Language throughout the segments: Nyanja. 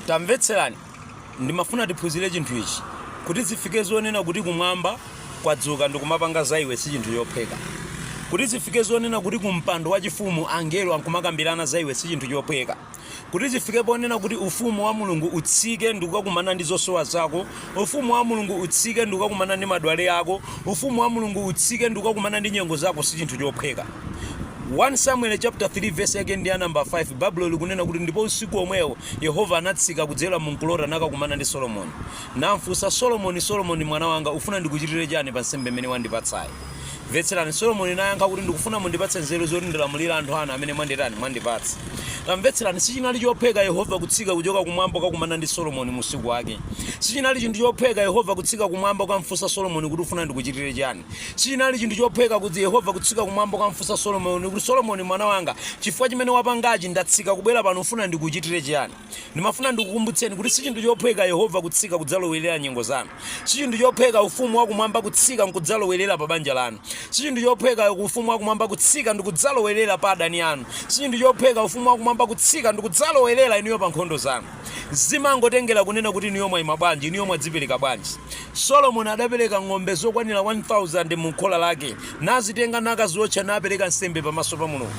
tamvetserani ndimafuna tiphunzire chinthu ichi kuti zifike zonena kuti kumwamba kwadzuka ndikumapanga za iwe si chinthu chophweka kuti zifike zonena kuti kumpando wachifumu angelo ankumakambirana za iwe si chinthu chophweka kuti zifike ponena kuti ufumu wa mulungu utsike ndikukakumana ndi zosowa zako Ufumu wa Mulungu utsike ndikukakumana ndi madwale ako, Ufumu wa Mulungu utsike ndikukakumana ndi nyengo zako sichinthu chophweka. 1 Samueli chapter 3 verse yake ndi ya number 5 Baibulo likunena kuti ndipo usiku omwewo Yehova anatsika kudzera mu nkulota nakakumana ndi Solomoni. Namfunsa Solomoni, Solomoni mwana wanga ufuna ndikuchitire chani pa nsembe imene wandipatsayi? Mvetserani, Solomoni nayankha kuti, Ndikufuna mundipatse nzeru zoti ndilamulira anthu anu amene mwanditani, mwandipatsa. Tamvetserani, Sichinali chophweka Yehova kutsika kuchoka kumwamba kukakumana ndi Solomoni mu usiku wake. Sichinali chinthu chophweka Yehova kutsika kumwamba kukamfunsa Solomoni kuti ufuna ndikuchitire chiyani. Sichinali chinthu chophweka kuti Yehova kutsika kumwamba kukamfunsa Solomoni kuti, Solomoni mwana wanga, chifukwa chimene wapangachi, ndatsika kubwera pano ufuna ndikuchitire chiyani? Ndimafuna ndikukumbutseni kuti sichinthu chophweka Yehova kutsika kudzalowerera nyengo zanu. Sichinthu chophweka Ufumu wa Kumwamba kutsika nkudzalowerera pa banja lanu. Sichinthu chophweka Ufumu wa Kumwamba kutsika ndikudzalowerera pa adani anu. Sichinthu chophweka Ufumu wa Kumwamba kutsika ndikudzalowerera inuyo pa nkhondo zanu. Zimangotengera kunena kuti inuyo mwaima bwanji, inuyo mwadzipereka bwanji. Solomoni adapereka ng'ombe zokwanira 1,000 mu khola lake, nazitenga nakaziwotcha napereka nsembe pamaso pa Mulungu.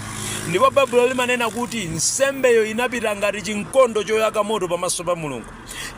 Ndipo Baibulo limanena kuti nsembeyo inapita ngati chinkondo choyaka moto pamaso pa Mulungu.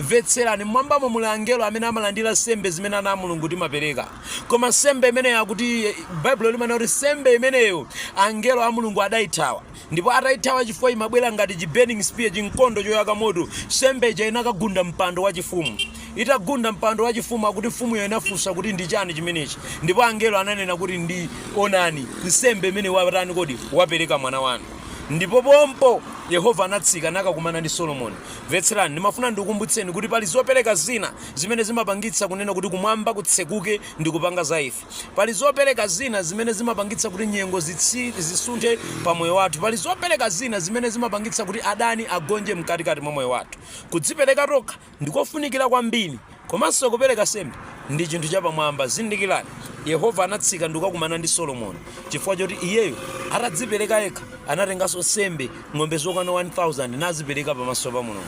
Mvetserani, mmwambamo muli angelo amene amalandira nsembe zimene ana a Mulungu timapereka. Koma nsembe imeneyo akuti, Baibulo limanena kuti nsembe imeneyo angelo a Mulungu adaithawa. ndipo ataithawa chifukwa imabwera ngati chi burning spear chinkondo choyaka moto nsembe ija inakagunda mpando wachifumu itagunda mpando wachifumu akuti mfumuyo inafunsa kuti ndi chani chimenechi ndipo angelo ananena kuti ndi onani nsembe imene watani kodi wapereka mwana wanu ndipo pompo yehova anatsika nakakumana ndi solomoni mvetserani ndimafuna ndikukumbutseni kuti pali zopereka zina zimene zimapangitsa kunena kuti kumwamba kutsekuke ndi kupanga za ife Pali zopereka zina zimene zimapangitsa kuti nyengo zisunthe pa moyo wathu. Pali zopereka zina zimene zimapangitsa kuti adani agonje mkatikati mwa moyo wathu. Kudzipereka tokha ndikofunikira kwambiri komanso kupereka nsembe ndi chinthu chapamwamba. Zindikirani, Yehova anatsika ndikukakumana ndi Solomoni chifukwa choti iyeyo atadzipereka yekha anatenganso nsembe ng'ombe zokwana 1,000 nazipereka pamaso pa Mulungu.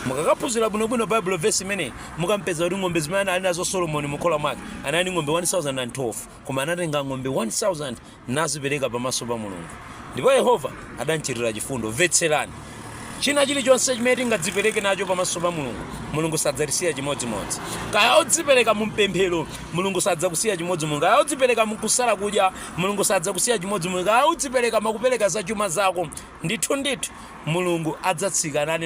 Mukakaphunzira bwinobwino Baibulo vesi imeneyi Mukampeza kuti ng'ombe zimene anali nazo Solomoni mu khola mwake anali ndi ng'ombe 1,012, koma anatenga ng'ombe 1,000 nazipereka pamaso pa Mulungu. Ndipo Yehova adamchitira chifundo. Mvetserani. China chilichonse chimene tingadzipereke nacho pamaso pa Mulungu, Mulungu sadzatisiya chimodzimodzi. Kaya udzipereka mu mpemphero, Mulungu sadzakusiya chimodzimodzi. Kaya udzipereka mu kusala kudya, Mulungu sadzakusiya chimodzimodzi. Kaya udzipereka mwa kupereka za chuma zako, ndithu ndithu Mulungu adzatsika nane.